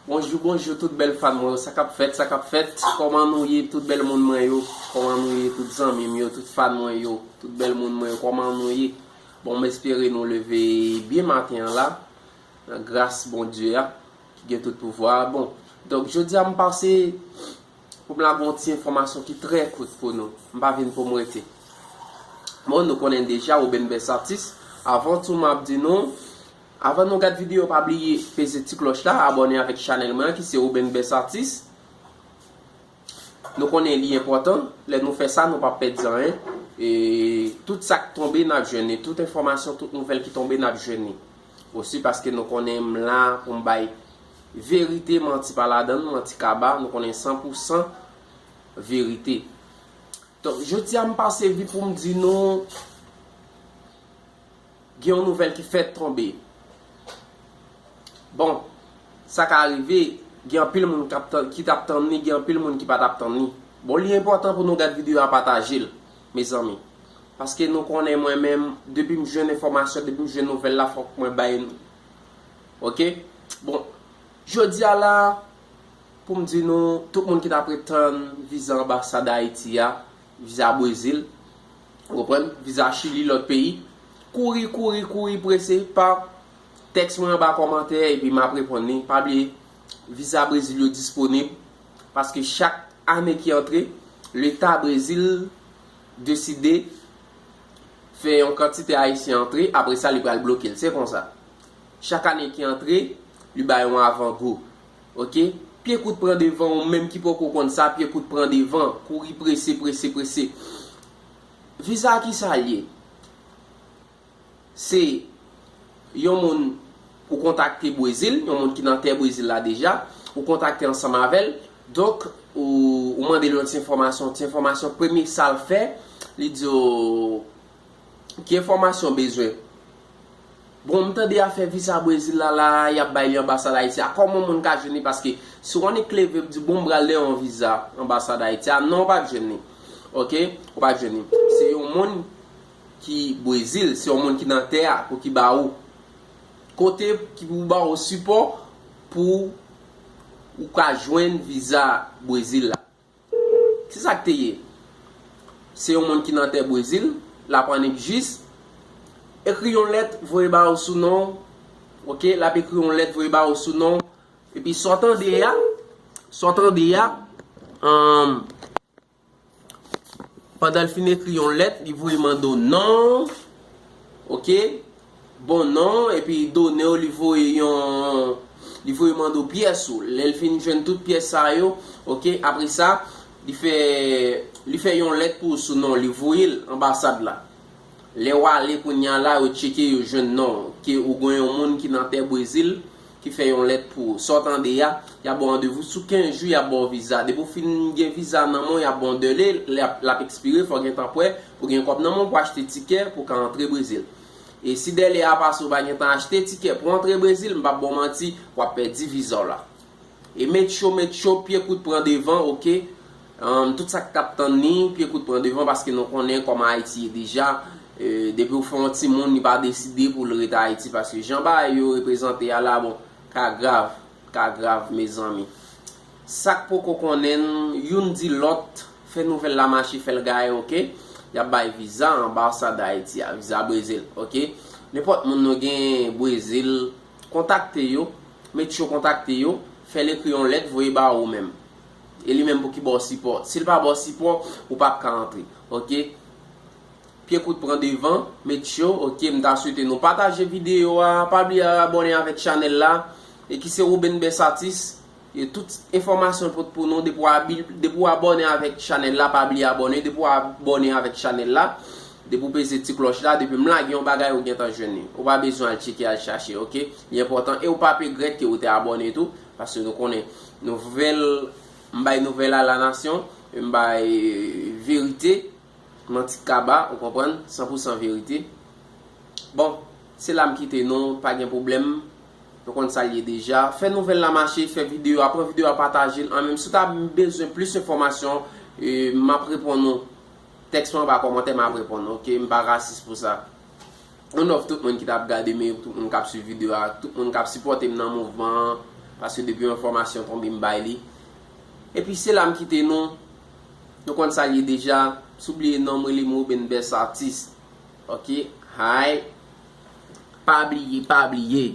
Bonjou bonjou tout bèl fan mwen yo sa kap fèt sa kap fèt kòman nou ye tout bèl moun mwen yo kòman nou ye tout zanmi m yo tout fan mwen yo tout bèl moun mwen yo kòman nou ye bon m espere nou leve byen maten an la nan gras Bondye a ki gen tout pouvwa bon donk jodi a m pase Pou m lage yon ti enfòmasyon ki trè kout pou nou. M pa vin pou m rete. Bon, nou konnen deja Roben Best Atis. Avan tou m ap di nou, avan nou gad videyo pa bliye peze ti klòch la, abòne avèk chanèl mwen an ki se Roben Best Atis. Nou konnen li enpòtan, lè nou fè sa nou pa p pèdi anyen. E tout sa k tonbe n ap jwenn li, tout enfòmasyon, tout nouvèl ki tonbe n ap jwenn li. Osi paske nou konnen m la pou m bay Verite manti pa ladan l, manti kaba, nou konnen san pou san verite. Donk jodi a m pase vi pou m di nou gen yon nouvèl ki fèt tonbe. Bon, sa ka rive gen anpil moun ki t ap tann li, gen anpil moun ki pa t ap tann li. Bon li enpòtan pou nou gad videyo a pataje l mezanmi. Paske nou konnen mwen menm depi m jwenn enfòmasyon, depi m jwenn nouvèl la fòk mwen bay Ok bon Jodi a la pou m di nou tout moun ki t apre tann viza anbasad ayiti a viza brezil ou konprann viza chili lòt peyi kouri kouri kouri prese pa tèks mwen anba kòmantè epi m ap reponn li pa bliye viza brezil yo disponib paske chak ane ki antre leta brezil deside fè yon kantite ayisyen antre apre sa li pral bloke l se konsa Chak ane ki antre, li bay yon avan gou. Ok. Pye kout pran devan ou menm ki poko konn sa pye kout pran devan, kouri prese prese prese. Viza ki sa l ye? Se yon moun ou kontakte Brezil, yon moun ki nan tè Brezil la deja, ou kontakte ansanm avè l, donk ou mande l yon ti enfòmasyon, ti enfòmasyon premye sa l fè, li di w Ki enfòmasyon bezwen? Bon m tande afè visa Brezil la la a yap bay li anbasad Ayiti a kòman moun ka jwenn li paske si w annik leve di bon m pral de yon visa anbasad Ayiti a non w pap jwenn li ok ou pa jwenn li se yon moun ki Brezil se yon moun ki nan tè a pou ki ba ou kote ki pou ba ou sipò pou ou ka jwenn visa Brezil la. Kisa k te ye? Se yon moun ki nan tè Brezil, l ap annik jis, ekri yon lèt voye ba ou sou non, ok, l ap ekri yon lèt voye ba ou sou non, epi sa w tande a, sa w tande a, anm, pandan l fin ekri yon lèt, li voye mande w non, ok, bon non w epi li done w li voye yon li voye mande w pyès ou lè l fin jwenn tout pyès sa yo ok apre sa li fè li fè yon lèt pou w sou non w li voye l anbasad la lè w ale kounya la yo tcheke yo jwenn non w ke ou gwen yon moun ki nan tè brezil ki fè yon lèt pou w sa w tande a y ap ba w randevou sou 15 jou y ap ba w viza depi w fin gen viza nan men w y ap ba w dèle lè l ap ekspire fò w gentan prè pou w gen kòb nan men w pou w achte tikè pou w ka antre brezil. E si dèle a pase ou pa gen tan achte tikè pou antre Brezil, m pap ba w manti, w ap pèdi viza w la. E met cho met cho, pye kout pran devan ok. Humm tout sa ki t ap tann li, pye kout pran devan paske nou konnen kòman Ayiti ye deja, depi ou fè yon timoun li pa deside pou l ret Ayiti paske jan bagay yo reprezante a la bon, ka grav. ka grav mezanmi. Sak poko konnenl youn di lòt fè nouvèl la mache fèl gaye ok yap bay viza anbasad Haïti a viza brezil ok nenpòt moun nou gen brezil kontakte yo met yo kontakte yo fèl ekri yon lèt voye ba ou menm e li menm pou ki baw sipò sil pa baw sipò ou pap ka antre ok. Pye kout pran devan met yo ok mta swete nou pataje video a pa bliye abòne avèk chanèl la e ki se Roben Best Atis e tout enfòmasyon pot pou nou depi w abòne avèk chanèl la pa bliye abòne depi w abòne avèk chanèl la depi w peze ti klòch la depi m lage yon bagay ou gentan jwenn li ou pa bezwen al tcheke al chache ok li enpòtan e ou pap egrèt ke ou te abòne tou paske nou konnen nouvèl m bay nouvèl a la nasyon m bay verite. Manti kaba ou konprann san pou san verite bon se la m kite nou pa gen pwoblèm nou konn sa l ye deja fè nouvèl la mache fè videyo a pran videyo a pataje l an menm si w ta bezwen plis enfòmasyon m ap reponn ou tèks mwen anba kòmantè m ap reponn ou ok m pa rasis pou sa m love tout moun ki t ap gade m e tout moun k ap swiv videyo a ak tout moun k ap sipòte m nan mouvman an paske depi yon enfòmasyon tonbe m bay li epi se la m kite nou. Nou konn sal ye deja. Si w bliye non m rele m Roben Best Artist ok hi. Pa bliye pa bliye.